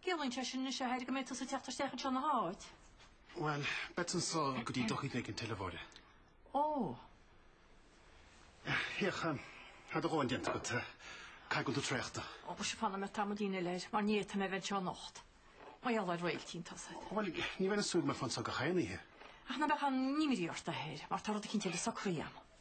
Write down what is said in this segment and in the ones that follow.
Ciallaíonn sé sin anois, a Thaidhg, go mbeidh tusa ag teacht isteach anseo ina háit? Bhuel, beidh anseo go dtí dochíd ag an teileafóire. Ó! Féach, tá do dhóthain déanta agat? Caithfidh go bhfuil tú traochta? Ó, ba sé fanfaidh mé tamaillín eile air, mar ní fhéadfaidh mé a bheith anseo anocht. Mar gheall ar Réiltín tosaigh. Bhuel, ní bheinn ag súil go mbeifeá anseo gach aon oíche. Ach ná beadh aon imní ort, a Thaidhg, mar tá rud eicínt eile socraithe agam.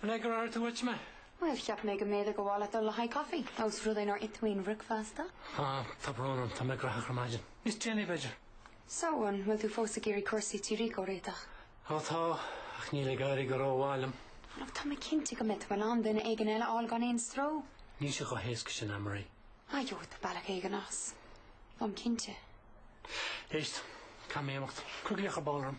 An ag ar theastaigh uait mé? Bhuel, cheap mé go mb'fhéidir go mba mhaith leat dul le haghaidh caife, ós rud é nár ith mé aon bhricfeasta. Tá, tá brón orm, tá mé gnóthach ar maidin. Níos déanaí, b'fhéidir. So, an bhfuil tú fós ag iarraidh cúrsaí tí Rícó a réiteach? Ó, tá, ach níl ag éirí go rómhaith liom. Ach tá mé cinnte go mbeidh tú in ann duine éigin eile a fháil gan aon stró. Níl sé chomh héasca sin, Anne-Marie. A Joe, tá bealach éigin as. Táim cinnte. Éist, caithfidh mé imeacht. Cuir glaoch ar ball orm.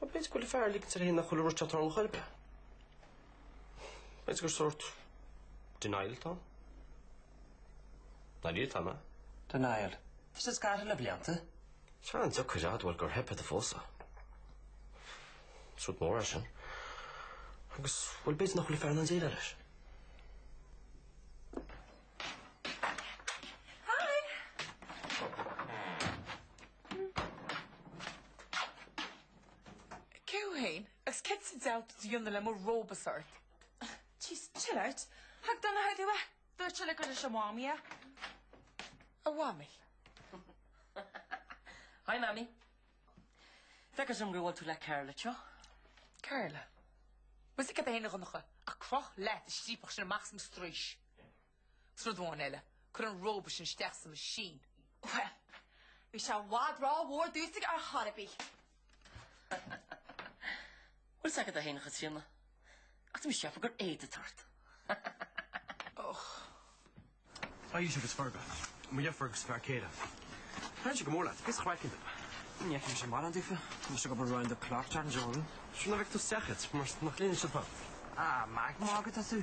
Nó b'fhéidir go bhfuil an fear ag ligint air féin nach bhfuil an rud ag tarlú ar chor ar bith. B'fhéidir gur sórt denial atá ann. Ná lig atá, ná. Denial. Is é scartha le blianta. Tá sé an-deacair a admháil gur theip ar do phósadh. Is rud mór é sin. Agus, bhuel, b'fhéidir nach bhfuil an fear in ann déileáil leis. Hi! Cé thú fhéin? Agus céard sa diabhal atá tú a dhéanamh le mo róbasa ort? Jeez, chill out. Thug Donncha dom é. Dúirt sé gur leis a Mhamaí é. A Mhamaí? Hi Mamaí. Feicimse gur bhuail tú le Carla teo. Carla? Muise cad é fhéin a Dhonncha? Ach croch leat an striapach sin amach as mo straois. Rud amháin eile, cuir an róba sin isteach sa machine. Bhuel, bhí sé i bhfad rómhór domsa ar chaoi ar bith. Bhfuil 's agat féin, a Chaitríona, ach tá mise ag ceapadh gur éad atá ort. Och. Aois agus Forba, mo dheirfiúr agus a fear céile. Thann sé go mór leat, bhíos craiceann duit. Ní fheicimse mórán difir, tá mise ag obair round the clock dearna Jordan. Sure ná bheadh tú seachad, mar nach linne sibh thú. Ah, go raibh maith agat as tú.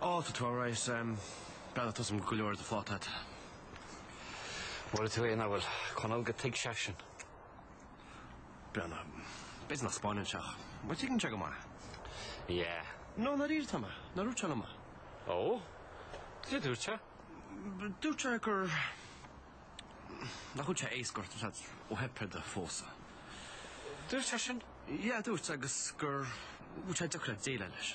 All to Torres em, bean tusa go leor ar do phláta agat. Mura tú aon amhail Conall go dtuigeann seisean. Bhuel. B'fhéidir nach spáineann sé é, ach tuigeann sé go maith. Yeah. No, dáiríre atá mé, nár dhúirt sé liom é. Oh? Cad a dúirt sé? Dúirt sé gur nach bhfuil sé éasca ort anseo ó theip ar do phósadh. Dúirt sé sin? Yeah, dúirt agus gur bhfuil sé deacair ag déileáil leis.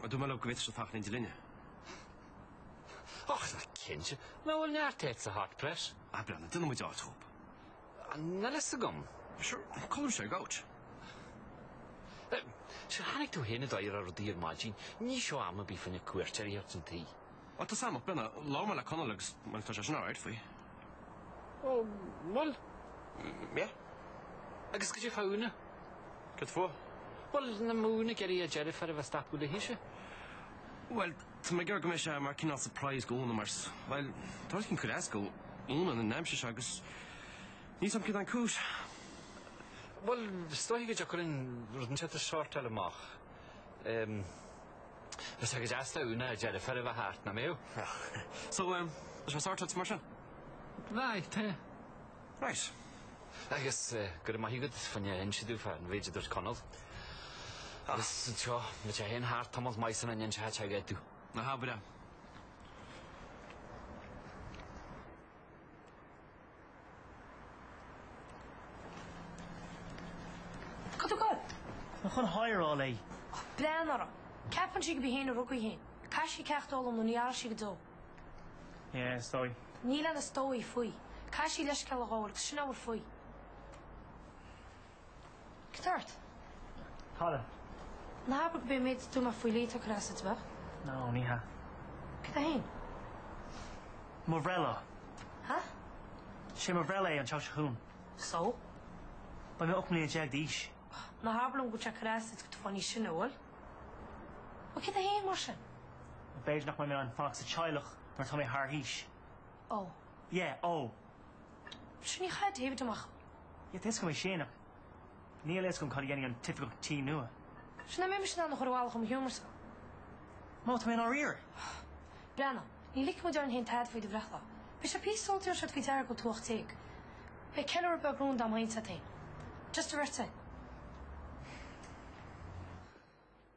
Ba dhóigh liom go bhféadfaidís fanacht in éindí linne. Ach nach cinnte. Nach bhfuil neart áit sa Hot Press? Ah, breathnaigh, déanfaidh muid áit dóibh. Nach bhfuil a fhios agam. Sure, colaim sé gabhailt. Sure, tháinig tú féin i dtaighde ar rudaí ar maidin, ní seo am a bheith faoina cuairteoirí chun an tí. Bhuel, tá's agam, Briana, labhair mé le Conall agus, bhuel, tá seisean alright faoi. Ó, bhuel. Mé? Agus caidé faoi Úna? Cad fúithi? Bhuel, nach mbeadh Úna ag iarraidh a deirfiúr a bheith ag stopadh léithise. Bhuel, tá mé ag iarraidh go mbeidh sé mar cineál surprise do Úna mar, bhuel, tá rud éicint ag cur as do Úna an aimsir seo agus níl fhios agam cad é an chúis. Bhuel, is dóichí go dtiocfadh linn rud inteacht a shortáil amach. Bheadh sé go deas do Úna a deirfiúr a bheith thart, nach mbeadh? So, um, is rud sorted, mar sin? Aye, tá. Right. Agus go raibh maith agat faoi inse domh fán mhéid a dúirt Conall. Agus anseo, me te féin thart, Tomás Maidhcín an insithe te aige tú. Aha, bhreá. Cad a gabh? An chun h-adhráil é. Ach Briana. Ceapann sí gurb í fhéin a rug í fhéin. Caithfidh sí ceacht a fhoghlaim nó ní athróidh sí go deo. Yeah, is dóigh. Níl aon is dóigh faoi. Caithfidh sí leithscéal a ghabháil 'gus sin a bhfuil faoi. Cad tá ort? Colin. Ná habair gurb é an méid a dúirt mé faoi Lee atá ag cur as duit, ab ea. No, ní hea. Cad é féin? Mo bhreithlá. Ha? Sé mo bhreithlá é an tseachtain seo chugainn. So? Beidh mé ocht mbliana déag d'aois. Ná habair liom go bhfuil sé ag cur as duit go bhfuil tú ag fáil níos sine, bhfuil? Bhuel cad é féin mar sin? B'fhéidir nach mbeidh mé in ann fanacht sa teaghlach nuair atá mé thar aois. Ó. Yeah, ó. Sure ní chaithfidh David amach. Yeah, tá fhios agam é sin ach. Níl fhios agam cad a dhéanfaidh an t-oifigeach tí nua. Seo ná mé mise in ann a chur abhaile chum hiomar sa. Má tá mé in ár iarraidh. Briana, ní ligfidh muid orainn féin tada faoi do bhreithlá. Beidh sé píosa sula dtabharfaidh siad faoi deara go bhfuil tú ocht déag. Beidh ceiliúradh beag rúnda agam féin is agat féin. Just an bheirt féin.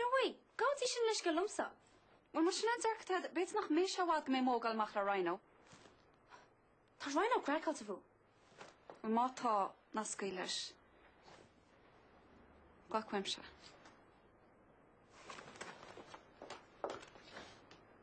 No way! Gabhadh sí sin leithscéal liomsa. Bhuel, más sin an dearcadh atá agat, b'fhéidir nach mbeidh sé i bhfad go mbeidh mé ag gabháil amach le Rhino. Tá Rhino craiceáilte fúm. Bhuel, má tá, ná scaoil leis. Glac uaimse é.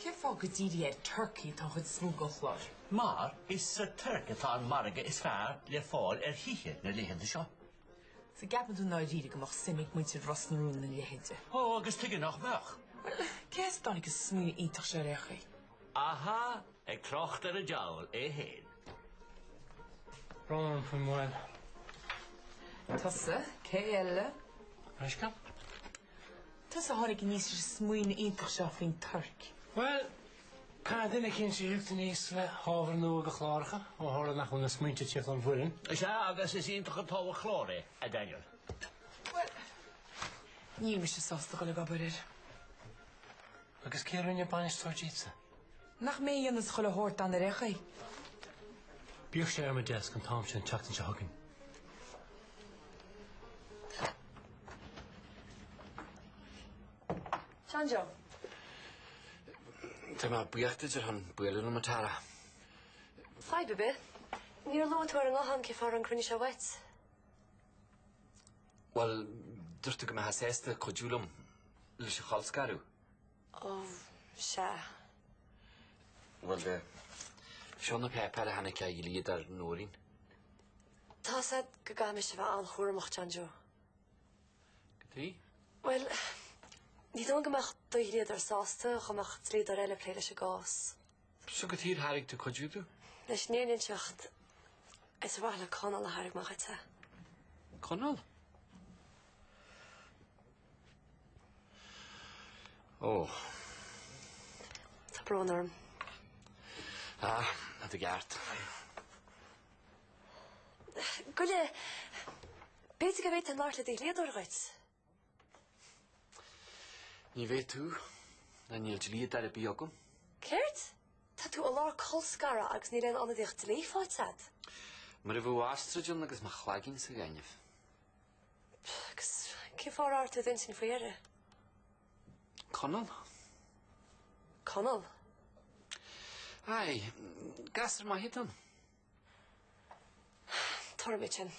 Cén fáth gur dírithe ar Turkey atá an chuid is mó den chlár? Mar is sa Tuirc atá an margadh is fearr le fáil ar thithe na laethanta seo. So ceapann tú ndáiríre go mbeadh suim ag muintir Ros na Rún ina leithéide? Ó, agus tuige nach mbeadh? Bhuel, cé as a dtáinig an smaoineamh iontach seo ar aon chaoi? Aha, ag trácht ar an diabhal é féin. Brón orm faoin moill. Tusa, cé eile? Brisce. Tusa, a tháinig aníos leis an smaoineamh iontach seo faoin Tuirc. Bhuel, caithfidh duine eicínt tíocht aníos le hábhar nua do chláracha, ó tharla nach bhfuil na smaointe ag tíocht ón bhfoireann. Sea, agus is iontach an t-ábhar cláir é, a Daniel. Bhuel, níl mise sásta a dhul ag obair air. Agus cé a rinne bainisteoir díotsa? Nach mé a dhéananns chuile shórt, dáiríre? Bíodh sé ar mo deasc an t-am seo an tseachtain seo chugainn. John Joe. Tá mé buíoch díot as bualadh liom, a Tara. Fadhb ar bith. Níor luaigh tú ar an nguthán cén fáth a raibh an cruinniú seo uait. Bhuel, dúirt tú go mbeifeá sásta cuidiú liom leis an cholscaradh. Ó, sea. Bhuel, seo na péipéir a tháinig ó dhlíodóir Nóirín. Tá a fhios agat go gcaithfidh mise bheith an-chúramach, John Joe. Goidé? Bhuel, ní dóigh liom go mbeadh do dhlíodóir sásta dá mbeadh dlíodóir eile ag plé leis an gcás. Seo go tír thairg tú cuid fiú tú? Leis an Éirinn teacht is a mhaith le Conall a thairg mo chuid sa. Conall? Ó. Tá brón orm. Ah, a do gceart. Goile, b'fhéidir go mbeidh an Lord le do dhlíodóir dhuit. Ní thig leat. Ná níl dlíodóir ar bith agam. Céard? Tá tú i lár colscaradh agus níl aon ionadaíocht dlí faighte agat. Mar a bheadh ostrais ann agus mo chloigeann sa ghaineamh. Agus cén fáth ar thug tú é sin faoi deara? Conall. Conall? Aye. Gasúr maith atá ann. Tabharfaidh mé dó sin.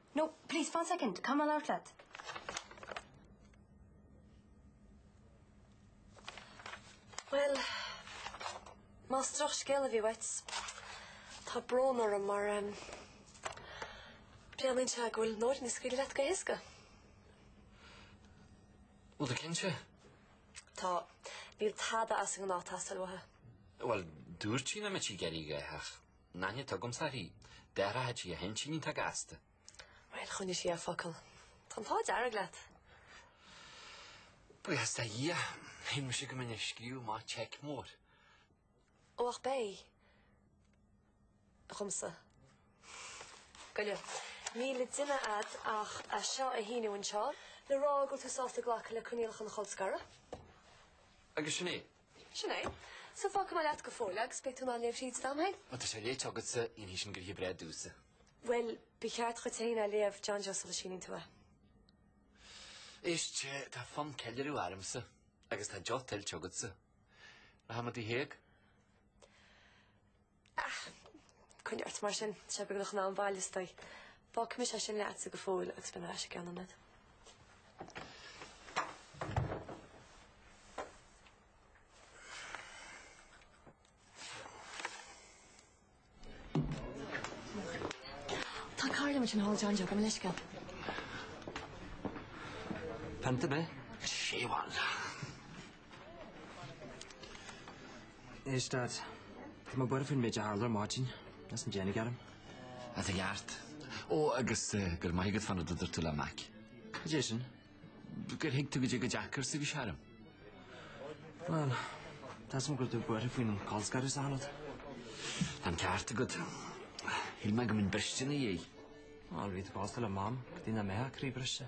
No, please, one second, I'll get back to you later? Bhuel, más drochscéal a bhí uait, tá brón orm mar breathnaíonn sé go bhfuil Nóirín ag scaoileadh leat go héasca. Bhfuil tú cinnte? Tá, níl tada as an ngnáth ag teastáil uathu. Bhuel, dúirt sí nach mbeadh sí ag iarraidh ach. Ná ní thuigimse í. D'athraigh sí a hintinn iontach gasta. Bhuel, choinnigh sí a focal. Tá an t-ádh dearg leat. Buíochas do Dhia. Shíl mise go mbeinn ag scríobh amach seic mór. Ó ach beidh. Chugamsa. Goile. Níl le déanamh agat ach é seo a shíniú anseo. Le rá go bhfuil tú sásta glacadh le coinníollacha an cholscartha. Agus sin é. Sin é. So fágfaidh mé leat go fóill agus beidh tú in ann léamh thríd i d'am féin. Má tá sé léite agatsa, déanfaidh sin gnoithe breá domhsa. Bhuel, ba cheart dhuit féin é a léamh, John Joe sula síníonn tú é. Éist, tá fonn ceiliúradh ormsa agus tá deoch tuillte agatsa. Rachaidh muid Tigh Thaidhg. Ah! Coinnigh ort mar sin, tá sé beagnach an am bhaile sti. Fágfaidh mise é sin leatsa go fóill agus beidh mé ar ais i gceann nóiméad. Tá cara liom ansin thall John Joe, gabh mo leithscéal. Pionta, ab ea? Séamhail. Éist Dad, tá mé buartha faoin méid a tharla ar maidin, as an déanaigh airm. Á, tá tú ceart. Ó agus go raibh maith agat fán rud a dúirt tú le Mac. Cad é sin? Gur thuig tú cad é chomh deacair is a bhí sé orm. Bhuel, tá a fhios agam go raibh tú buartha faoin colscaradh is achan rud. Tá an ceart agat. Shíl mé go mbeinn briste ina dhiaidh. Ó, rí, tá bás le Mam, go dtí nach mbeidh a croí briste.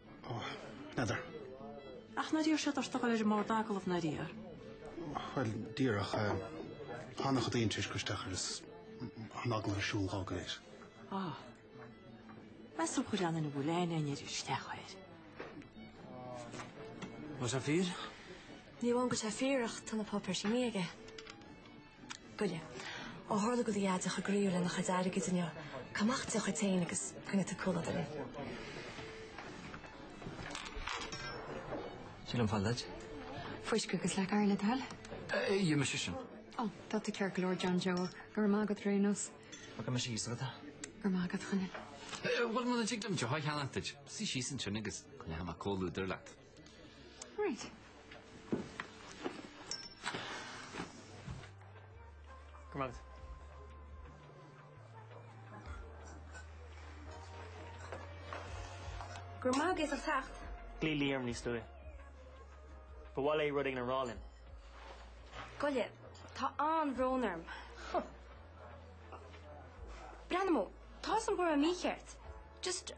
Ó, n'fheadar. Ach nár iarr siad ort dul ar an mbord agallaimh, nár iarr? Bhuel, díreach. Tháinig an tuairisc isteach agus an agallamh ar siúl dhá go léir. Ó. Measaim gur ann ina bhfuil aon aon oiread isteach air. An bhfuil sé fíor? Ní hamháin go bhfuil sé fíor ach tá na páipéir sínithe aige. Goile. Ó tharla do dheaide chomh croíúil lena chuid airgid inniu, cuir amach deoch duit féin agus coinneoidh tú comhluadar linn. Sílim fáil duit. Fuisce agus leac oighir le do thoil. Gheobhaidh mise sin. Ó, tá tú ceart go leor, John Joe. Go raibh maith agat, ar aon nós. Fágfaidh mise thíos agat. Go raibh maith agat, a Chonaill. Bhuel, muna dtig liom deoch a cheannacht duit. Suigh síos ansin agus coinneoidh mé comhluadar leat. Ghlaoigh Lee orm níos luaithe. Ba mhaith léi rud éigin a rá linn. Goile, tá an-bhrón orm. Breathnaigh, tá a fhios agam go raibh mé mícheart. Just.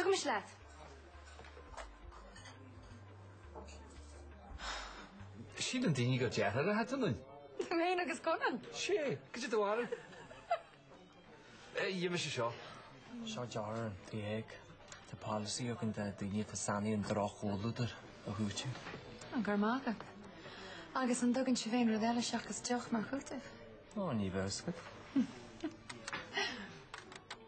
Tugaimis leat. Siad an daoine go deartha le hat anoinn. Mé féin agus Conan. Sé, go dtí do mhaireann. Dhíol mise seo. Seo deoch ar an teach. Tá polasaí againn do dhaoine atá sáinnithe i ndroch-chomhluadar a chúiteamh. Ah, go raibh maith agat. Agus an dtugann sibh aon rud eile seachas deoch mar chúiteamh? Ó, ní bheadh a fhios agat.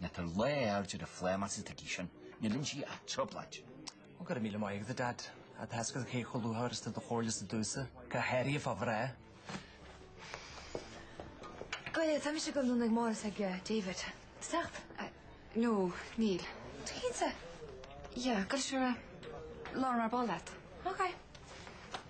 Né tar lá aird ar a phlém as a dtigidh sin, níl in sí ach trioblait. Ó go raibh míle maith agat, a Dhaid, a Theascaigh cé chomh luathóir is do do chomhairle sa dtús, cá háiríodh fá bhreá? Bhuel, tá mise i gConradh na gComóradh ag David, ceacht? Nó níl. Tú cinnte? Yeah, go raibh sibh ar a lár mar ba leat. OK.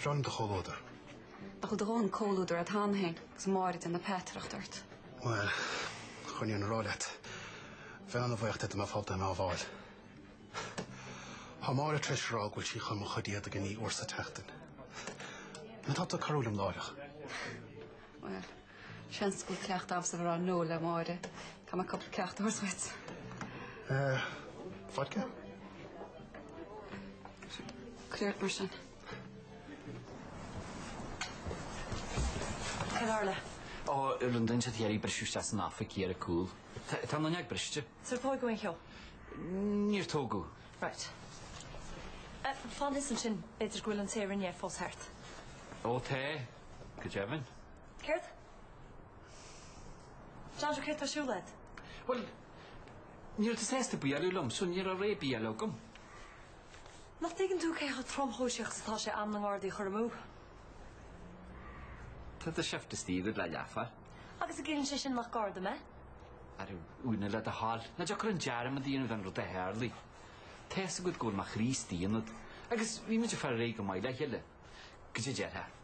Breá liom do chomhluadar. Nach bhfuil do dhóthain comhluadar agat féin agus Máire ag déanamh peataireacht ort? Bhuel, chun an fhírinne a rá leat, bheinn an-bhuíoch de do mbeadh fabhta i m'á bhfáil. Thá Máire tar éis a rá go bhfuil sí chun mo chuid éadaigh a ní uair sa tseachtain. An atá tú ag cabhrú liom láithreach? Bhuel. Seans go bhfuil cleachtadh agamsa bhur fhear Noel le Máire. Caithfidh mé cúpla ceacht a thabhairt dhuit. Eh, vodka? Cuir ort mar sin. Céard a tharla? Ó, rinne siad iarracht briseadh isteach san oifig thiar ar cúl. Tá an fhuinneog briste. Is ar tógadh aon cheo? Níor tógadh. Right. Eh, fan ansin, b'fhéidir go bhfuil an té a rinne é fós thart. Ó, tá, go deimhin. Céard? Sandra, céard atá ar siúl agat? Bhuel, ní raibh tú sásta bualadh liom, so ní raibh rogha ar bith eile agam. Nach dtuigeann tú cé chomh tromchúiseach is atá sé am na nGardaí a chur amú? Tá do shift istigh le leathuair. Agus an gciallaíonn sé sin nach Garda mé? Ara, a Úna, le do thoil, nach dtiocfadh linn dearmad a dhéanamh den rud a tharlaigh. Tá a fhios agat go bhfuil mo chroí istigh ionat, agus bhí muid ag fáil ar aghaidh go maith le chéile, go dtí a déarfá.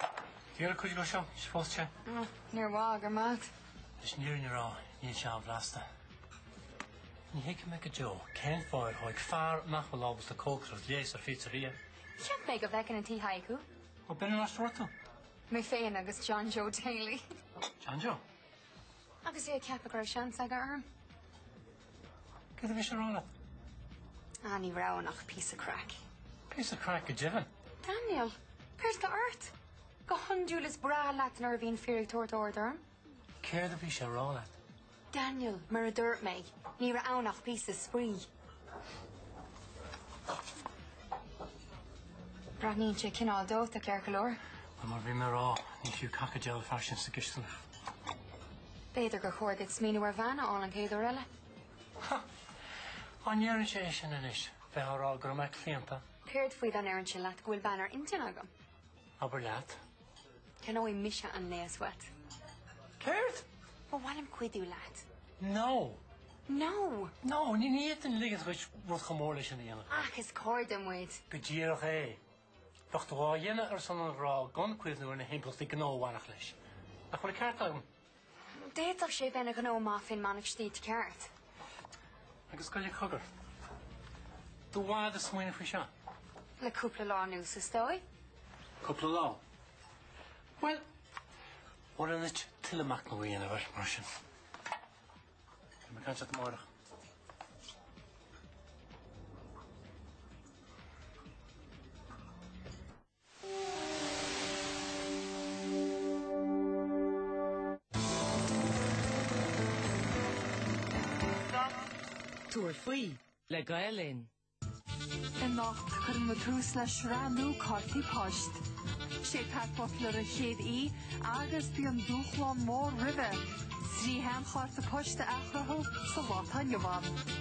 Ag iarraidh cuid dhó seo, suppose, te? Ó, níor mhaith, go raibh maith agat. Leis an fhírinne a rá, níl sé an-bhlasta. Ní thuigfidh mé go deo cén fáth ar thóig fear nach bhfuil ábalta cócaireacht léas ar phizzeria. Cheap mé go bhfeicfinn i Tigh Thaidhg thú. Ó, bhí mé ann níos túisce. Mé féin agus John Joe Daly. John Joe? Agus é ag ceapadh go raibh seans aige orm. Céard a bhí sé ag rá leat? Ah, ní raibh ann ach píosa craic. Píosa craic go deimhin. Daniel, céard atá ort? Go hiondúil is breá leat nuair a bhíonn fir ag tabhairt aird orm. Céard a bhí sé ag rá leat? Daniel, mar a dúirt mé, ní raibh ann ach píosa spraoi. Breathnaíonn sé cineál dóite, ceart go leor. Bhuel, mar a bhí mé a rá, ní fiú cac an diabhail an fear sin sa gcisteanach. B'fhéidir gur chóir duit smaoineamh ar bhean a fháil an chéad uair eile. Ha! Dá ndéarfainnse é sin anois, bheifeá a rá go raibh mé claonta? Céard faoi dá ndéarfainnse leat go bhfuil bean ar intinn agam? Abair leat. Ceannóidh mise an léas uait. Céard? Ba mhaith liom cuidiú leat. No! No! No, ní fhéadfainn ligean dhuit rud chomh mór leis sin a dhéanamh. Ach is cairde muid. Go díreach é. Bheadh tú á dhéanamh ar son an ghrá gan cuimhniú ar na himpleachtaí gnó a bhainfeadh leis. Nach bhfuil ceart agam? D'fhéadfadh sé bheith ina ghnó maith fén mbeannacht stíte ceart. Agus goile cogar. Do bhád a smaoine faoi seo? Le cúpla lá nús is dói? Cúpla lá. Well, War an it tuile mac na bhíon a bhar mar sin. me gan at mórach. Tabhair faoi le Gael Linn. Anocht, cuireann muid tús le sraith nua Cártaí Poist. Sé Pat Butler an chéad aoi agus bíonn dúshlán mór roimhe, trí sheanchárta poist a athchruthú sa lá atá inniu ann.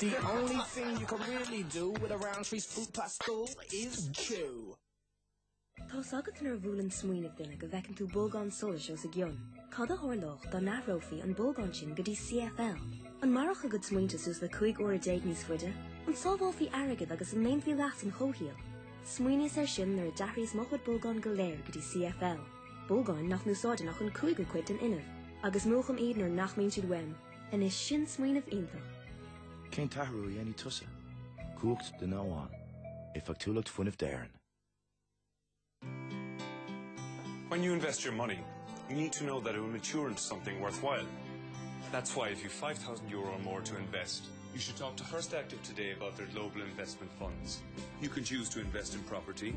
The only thing you can really do with a Rowntree's Fruit Pastille is chew. Tá's agat nuair a bhuaileann smaoineamh duine go bhfeiceann tú bolgán solais os a gcionn. Cad a tharlódh dá n-athrófaí an bolgán sin go dtí CFL? An mairfeadh a gcuid smaointe suas le cúig uaire déag níos faide? An sábhálfaí airgead agus an ndéanfaí leas an chomhshaoil? Smaoiníos air sin nuair a d'athraíos mo chuid bolgán go léir go dtí CFL. bolgáin nach n-úsáideann ach an cúigiú cuid den fhuinneamh, agus múchaim iad nuair nach mbíonn siad uaim. Anois sin smaoineamh iontach! Cén t-athrú a dhéanfaidh tusa? Cumhacht duine amháin. Éifeachtúlacht fuinnimh d'Éirinn. When you invest your money, you need to know that it will mature into something worthwhile. That's why if you've 5,000 euro or more to invest, you should talk to First Active today about their global investment funds. You can choose to invest in property,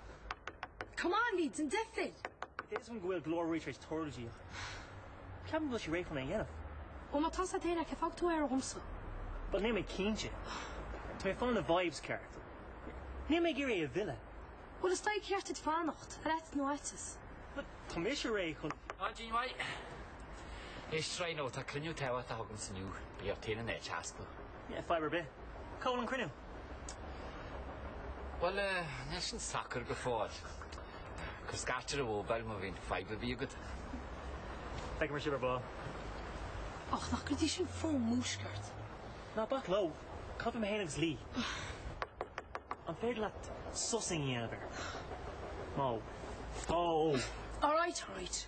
Come on, lads, déan deifir! Is dóigh liom go bhfuil go leor ruaig tar éis teorgail díobh. Ceapaim go bhfuil sí réidh chun é a dhéanamh. Ó má tá sé daonna, cé fágfaidh tú air dhomsa? But níl mé cinnte. Tá mé ag fanacht leis na vibes ceart. Níl mé ag iarraidh é a mhilleadh. Bhuel, is dóigh gur ceart duit fanacht, ar ait nó aiteas. Bhuel, tá mise réidh chun. Á, Jean Mhaidhc! Is try nó tá cruinniú tábhachtach agamsa inniu. Bíodh taoineadh na h-easpa. Fadhb ar bith. Cá bhfuil an cruinniú? Bhuel, níl sin socair go fóill. Cuir scairt ar an mhóbail má bhíonn fadhb ar bith agat. Feicfidh mé sibh ar ball. Ach nach gcuid í sin fón Mhúscairt? Ná bac leo. Caithfidh mé féin agus Lee. An féidir leat sos a dhéanamh air? Má. Tá, ó. Alright, alright.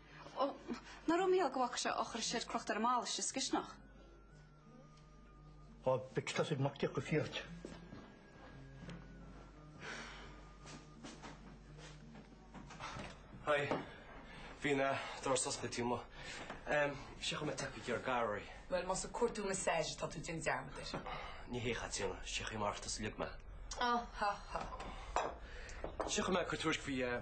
Ó, ná raibh míol go bhfaca sé ó chuir siad crochta ar an mballa istigh sa gcisteanach. Ó, b'fheic tosaigh Mac Diocca fiat. Hi, bhí an doras oscailte díom mo. Em, seachain mé tacú gur gar í. Bhuel, más ag cuartú massage atá tú déan dearmad air. Ní hea, a Chaitríona, seachain mé mar atá sa liug mé. Á, ha, ha. Seachain mé cur tuairisc faoi, eh,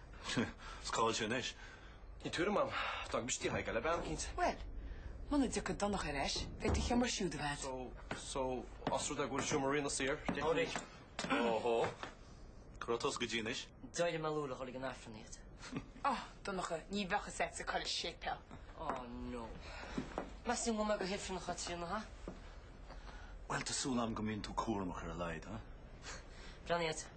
Is cá bhfuil sé anois. Níl tuairim a'm. D'fhág mise tigh Thaidhg le bean cinnte. Bhuel, muna dtiocfaidh Donncha ar ais, beidh do sheomra siúd i bhfad. So, so, os rud é go bhfuil seomra Ríona saor, deich mí-. Anraith. Óhó. Cá raibh tusa go dtí anois? D'éirigh mé luath le dhul ag an Aifreann iad. Ah, Donncha, ní bheadh fhios a'dsa cá bhfuil an séipéal. Oh no. Measaim go mbeidh go hifreann a Chaitríona, ha? Bhuel, tá súil a'm go mbíonn tú cúramach ar a laghad, ha? Breathnaigh a'd.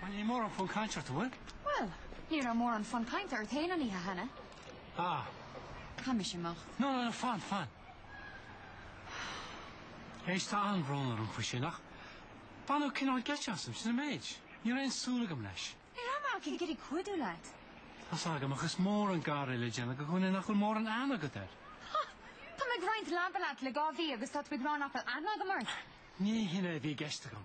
Bhuel, níl mórán fonn cainte ort, an bhfuil? Bhuel, ní raibh mórán fonn cainte ort fhéin an oíche cheana. Ah. Caithfidh mise imeacht. No, no, no, fan, fan. Éist, tá an-bhrón orm faoi sin ach baineadh cineál geit asam, sin an méid. Ní raibh aon súil agam leis. Ní raibh mé ach ag iarraidh cuidiú leat. Tá's agam ach is mór an gar é le déanamh do dhuine nach bhfuil mórán aithne agat air. Ha! Tá mé ag roinnt leaba leat le dhá mhí agus tá tú ag rá nach bhfuil aithne agam ort? Ní hin é a bhí i gceist agam.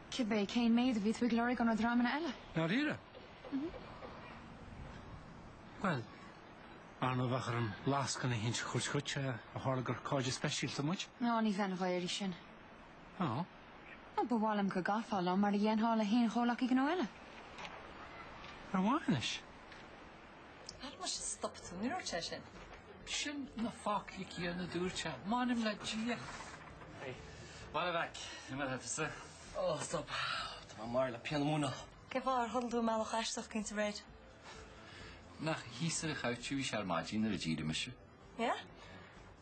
Cibé cén méid a bhí tú ag lorg ó na dreamanna eile? Dáiríre? Bhuel, ar ndóigh bheadh orm lascaine eicínt a thabhairt dhuit ó tharla gur cairde speisialta muid. Ná ní bheinn dhá iarraidh sin. Á? Ó, ba mhaith liom go gcaithfeá liom mar a dhéanfá le haon chomhleacaí gnó eile. Ar mhaith anois? Cad mar sin stop tú? Ní dúirt sé sin. Sin na foclaí céanna a dúirt sé. M'anam le Dia. Hey, bhaile mhac, imeall thú sa. Ó, stop. Tá mé marbh le pian Mhúineadh. Cé mhaith ar thugann tú a mbealach aisteach against aréir? Nach thíos a chabhraigh tú? Bhí sé ar maidin nuair a d'éirigh mise. Yeah?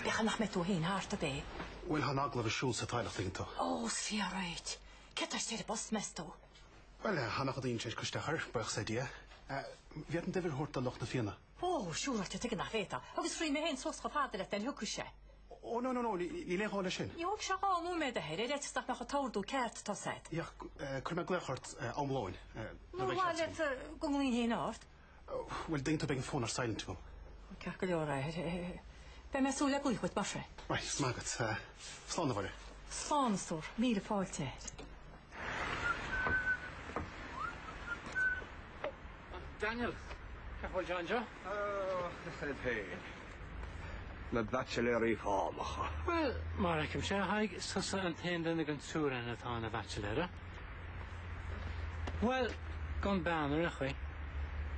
Bíodh nach mbeidh tú fhéin thart, ab é? Bhuel, tá an t-agallamh ar siúl sa Taidhleacht tuigeann tú. Ó, sea, right! Cé atá istigh ar an bpost, meas tú? Bhuel, thá nach adaíonn sé ar Coiste Achar, buíochas le Dia. Ní fhéadfainn d'uimhir a thabhairt do lucht na Fianna. Ó, siúráilte, tuigim nach bhféadfá. Agus rithfidh mé fhéin suas chomh fada leat nuair a thiocfaidh sé. Ó no no no, níl aon ghá leis sin. Ní thógfaidh sé dhá nóiméad ahead ar fhaitíos nach mbeadh an t-ordú ceart ato said. Ach, cuirfidh mé glaoch ort am lóin. Nó ba mhaith leat go nglaofainn féin ort. Bhuel, dtuigeann tú, beidh an fón ar silent agam. Ceart go leor é. Beidh mé ag súil le glaoch uait mar sin. Right, slán agat. Slán, a Mháire. Slán, a Stór. Míle fáilte air. Daniel, cén chaoi a bhfuil? John Joe? Na Baitsiléirí Fánacha. Bhuel, mar a fheicimse, is tusa an t-aon duine den triúr againn atá ina bhaitsiléir. Bhuel, gan bean ar aon chaoi.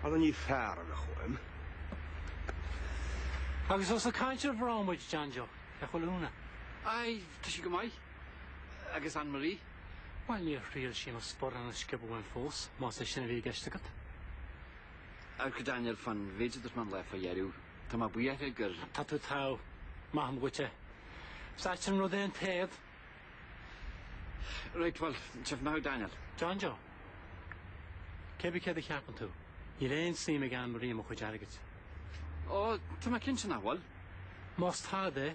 Anna Ní Fearanna chugam. Agus ós ag caint ar mhná muid John Joe, cén chaoi a bhfuil Úna? Aye, tá sí go maith. agus Anne Marie. Bhuel, níor thriail sí mo sparán a sciobadh uaim fós, más é sin a bhí i gceist agat. Amharc, Daniel, fán mhéid a dúirt mé an lá fá dheireadh. Tá mé buartha gur. Tá tú togha. Maithim dhuit é. Is ait an rud é an t-éad. Right, bhuel, chífidh mé thú Daniel. John Joe. Cibé céard a cheapann tú? Níl aon suim ag Anne Marie i mo chuid airgid. Ó, tá mé cinnte nach bhfuil. Más tadh é.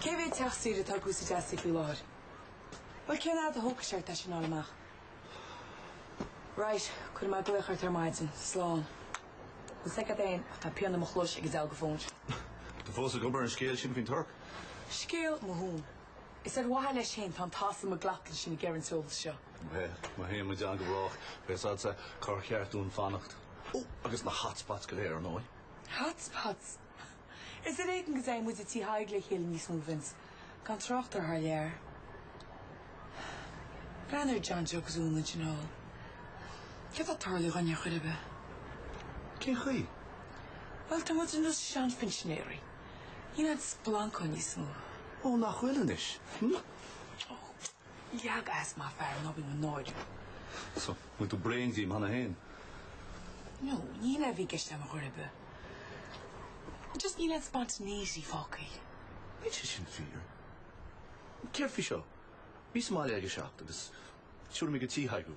Cé mhéad teach saoire atá ag úsáid as í faoi láthair? Bhuel, cén fhad a thógfaidh sé ort é sin a fháil amach? Right, cuirfidh mé glaoch ort ar maidin. Slán. Bhuel, sé cad é ach tá pian i mo chluais ag an diabhal de fón. Tá tú fós ag obair ar an scéal sin faoin Tuirc? Scéal mo thóin. Is ar mhaithe leis féin tá an tas i mo glac leis sin ag iarraidh an t-eolas seo. Bhuel, má théann muid ann go brách, beidh a fhios agatsa cár cheart dúinn fanacht. Ó, agus na hotspots go léir ar ndóigh. Hotspots? Is ar éigean go dtéann muid go Tí Thaidhg le chéile níos mó, Vince, gan trácht ar thar lear. Breathnaigh ar John Joe agus Úna, i nDún na nGall. Céard atá ag tarlú dhúinn ar chor ar bith? Cén chaoi? Bhuel, tá muid ar nós seanphinsinéirí. Níl an splanc ann níos mó. Ó, nach bhfuil anois? Hm? Leag as má fear an obair nó náir. So, an bhfuil tú bréan díom cheana féin? No, ní hé a bhí i gceist agam ar chor ar bith. Just níl aon spontaneity fágtha. Beidh sé sin fíor. Céard faoi seo? Bí sa mbaile ag a 7 agus tabharfaidh mé go Tí Thaidhg.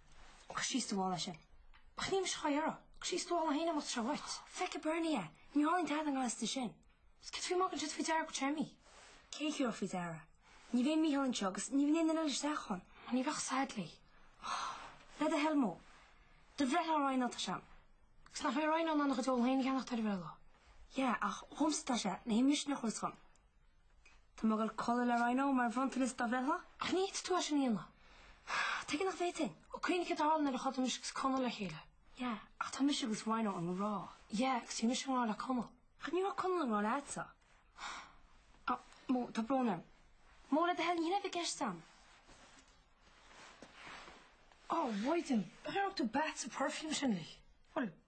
Cistí stuála sinn. Ach níl mise chomh dhearg. Cistí stuála féin amuigh treo dhuit. Feicfidh Bernie é. Ní tharlaíonn tada in Gaillimh de sin. Is cad faoi magadh siad faoi deara go téarmaí? Cé a chíoradh faoi deara? Ní bheidh Micheál anseo agus ní bheidh aon duine eile isteach ann. Ó ní bheadh said léi. Le do thoil mó. Do bhreithlá Ryan tá sé ann. Agus nach mbeidh Ryan ann lena chuid eolais féin a cheannacht ar an bhreithlá? Yeah, ach dhomsa tá sé, na himthimisiní a chur os cionn. Tá mé ag goil a chodladh le Rhino mar bhronntanas dá bhreithlá. Ach ní thig leat é sin a dhéanamh. Tuige nach bhféadfainn? Ó, cuimhnigh céard a tharla nuair a chodail mise agus Conall le chéile. Yeah, ach tá mise agus Rhino i ngrá. Yeah, agus bhí mise i ngrá le Conall. Ach ní raibh Conall i ngrá leatsa. Ah, Mo, tá brón orm. Mo, le do thoil, ní raibh sé i gceist agam. Ó, mhaighdean, ab é chaoi ar thug tú bath sa perfume sin uilig. Bhuel,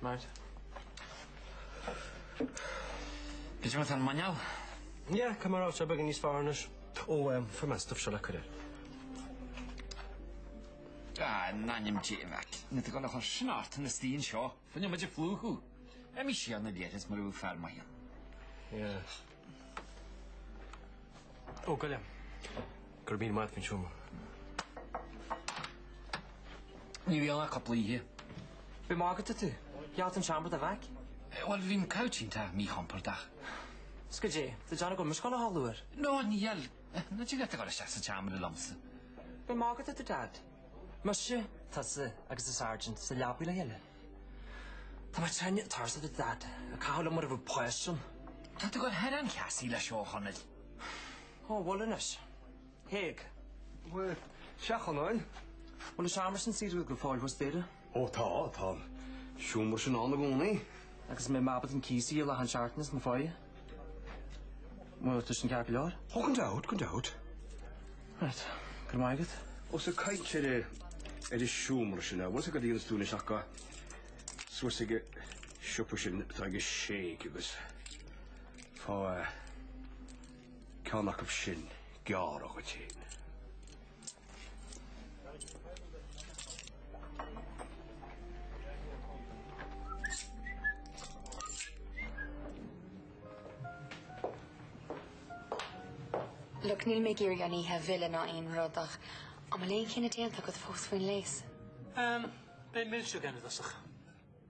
Right. Cén chaoi a bhfuil an muineál? Yeah, ceapaim go raibh sé beagán níos fearr anois? Ó, ehm, fuair mé an stuif seo le cur air. Ah, in ainm Dé, Mack, níl tú ag goil á chur sin ort ina suí anseo. Féadfá muid a phlúchadh. Imigh síos ag an leithreas mar a dhéanfadh fear maith. Yeah. Ó gabh i leith. Go raibh míle maith agat, faoin seomra. Ní bheidh ann ach cúpla oíche. Ab ea ag magadh atá tú. Gheall tú an seomra do Mack? Bhuel, bhí an couch sin an-mhíchompordach. Is go dtí go ndéanfaidh muid socrú eile ar ball. Níl, níl. Níl tú ag goil é a chur isteach sa tseomra liomsa? Ab ea ag magadh atá tú Dad. Muise, tusa agus an Sergeant, sa leabaidh le chéile. Tá mé teine ag tarsa do Dhaid. Ag caitheamh liom mar a bheadh poist ann. Tá tú gur thoir an-cheasaí leis Ó Chonaill. Ó, bhuel anois. Thig. Bhuel, sea, Chonáin. Bhuel, is amhras an saothar go fóill thuas, Daire. Ó, tá, tá an seomra sin ann i gcónaí. Agus mé in m'abairt an cíosaí i Leath an tSeartans, mo pháighe. Bhuel, tá sé sin ceart go leor. Oh gan dabht, gan dabht. Right. Go raibh maith agat. Os ag caint ar a ar a seomra sin b'fhéidir go dtabharfá sciuird isteach suas ag an siopa sin atá ag Jake agus fá ceann acu sin a ghearradh dhuit féin. Look, níl mé ag iarraidh an oíche a mhilleadh ná aon rud ach an bhfuil aon chinneadh déanta agat fós faoin léas? Ehm, beidh milseog againn i dtosach.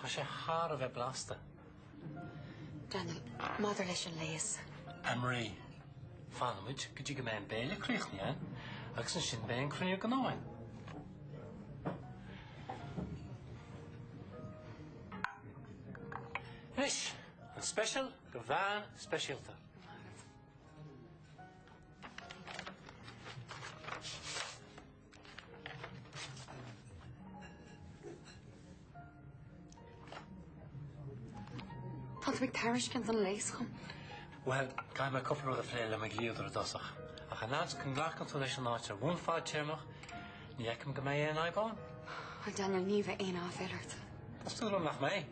Tá sé thar a bheith blasta. Daniel, maidir leis an léas. Anne-Marie, Fanfaimid go dtí go mbeidh an béile críochnaithe, eh? Agus ansin beidh an cruinniú gnó againn. Anois, an speisial do bhean speisialta. Tá tú ag tairiscint an léas dhom. Bhuel, caithfidh mé cupla rud a phlé le mo dhlíodóir i dtosach. Ach an fhad is go nglacann tú leis an áit ar bhonn fadtéarmach, ní fheicim go mbeidh aon fhadhb ann. Bhuel, Daniel, ní bheidh aon aiféala ort. Tá súil agam nach mbeidh.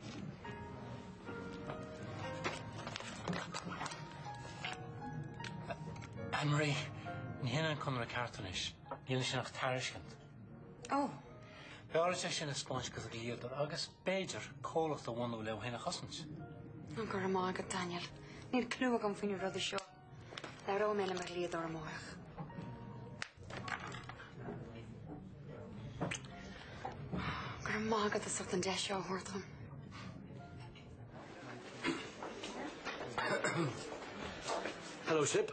Anne-Marie, ní hin é an conradh ceart anois. Níl ansin ach tairiscint. Oh! B'fhearr dhuit é sin a thaispeáint do dhlíodóir agus, b'fhéidir, comhlacht a bhunú le thú féin a chosaint. Go raibh maith agat, Daniel. Níl cliú agam faoi na rudaí seo. Labhróidh mé le mo dhlíodóir amárach. Go raibh maith agat as ucht an deis seo a thabhairt dhom. Hello, Sip.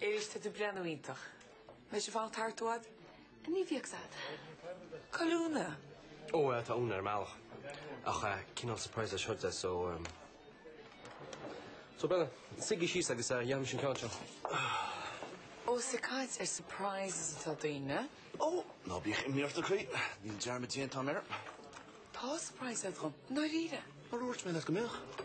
Eilís, tá tú ag breathnú iontach. Mé sin fanacht thart uad. Ní bhíodh said. Cá bhfuil Úna. Ó bhuel tá Úna ar an mbealach. Ach cineál surprise é seo di so ehm. So b'fheile. Suigí síos agus déanfaidh mise an ceann seo. Ós ag caint ar surprises atá daoine. Ó, ná bíodh imní ort a chroí. Níl dearmad déanta agam air. Tá surprise agat dhom. I ndáiríre. Mar a dúirt mé leat go mbeadh.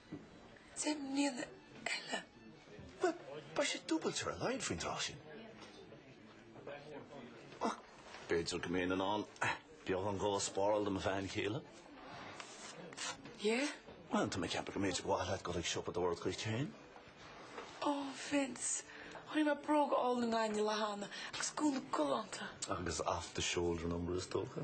Deich mbliana eile. Bhuel, beidh sé dúbailte ar a laghad faoin dtráth sin. Ach b'fhéidir go mbeinn in ann beagán dhó a spáráil do mo bhean chéile. Yeah? Bhuel, tá mé ag ceapadh go mb'fhéidir gur mhaith leat a ghoil ag siopadóireacht duit féin. Ó, Vince, chonaic mé bróga álainn i nGaillimh an lá cheana agus gúna galánta. Agus off the shoulder number is dócha?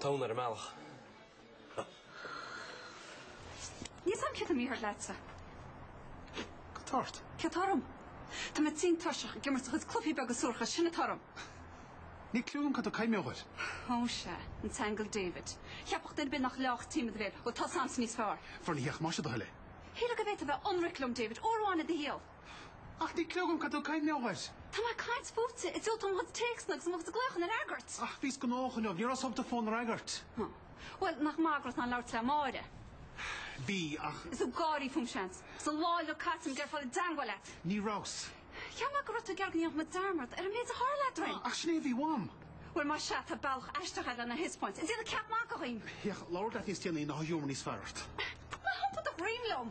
Tá Úna ar an mbealach. Níl a fhios agam cad tá mícheart leatsa. Cad tá ort. Céard atá orm? Tá mé tinn tuirseach ag imirt do chuid cluichí beaga suaracha, sin atá orm. Níl cliú agam cad tá tú ag caint mar gheall air. Ó sea, an t-aingeal David. Cheapfadh duine ar bith nach leáfadh an t-im i do bhéal. Bhuel, tá a fhios agamsa níos fearr. Fornaitheach más é do thoil é. Shílfeá go bhféadfá a bheith ionraic liom, David, uair amháin i do shaol. Ach níl cliú agam cad tá tú ag caint mar gheall air. Tá mé ag caint fútsa, ag diúltú mo chuid téacsanna agus mo chuid glaochanna a fhreagairt. Ach bhíos gnóthach inniu, níor fhéadas an fón a fhreagairt. Ná. Bhuel, nach maith go raibh tú in ann labhairt le Máire? Bhí, ach. Is tú ag gáirí fúm, seans. Is an lá inniu caite agam ag iarraidh a dhul i dteangmháil leat. Ní rabhas. Cheap mé go raibh tú ag iarraidh go ndéanfadh muid dearmad ar an méid a tharla eadrainn. Ach sin é a bhí uaim. Bhuel, más ea, tá bealach aisteach agat lena thaispeáint. An dtiarna ceap maith againn? Féach, labharfad leat níos déanaí nuair a bheidh giúmar níos fearr ort. Ná hiompaigh do dhroim liom.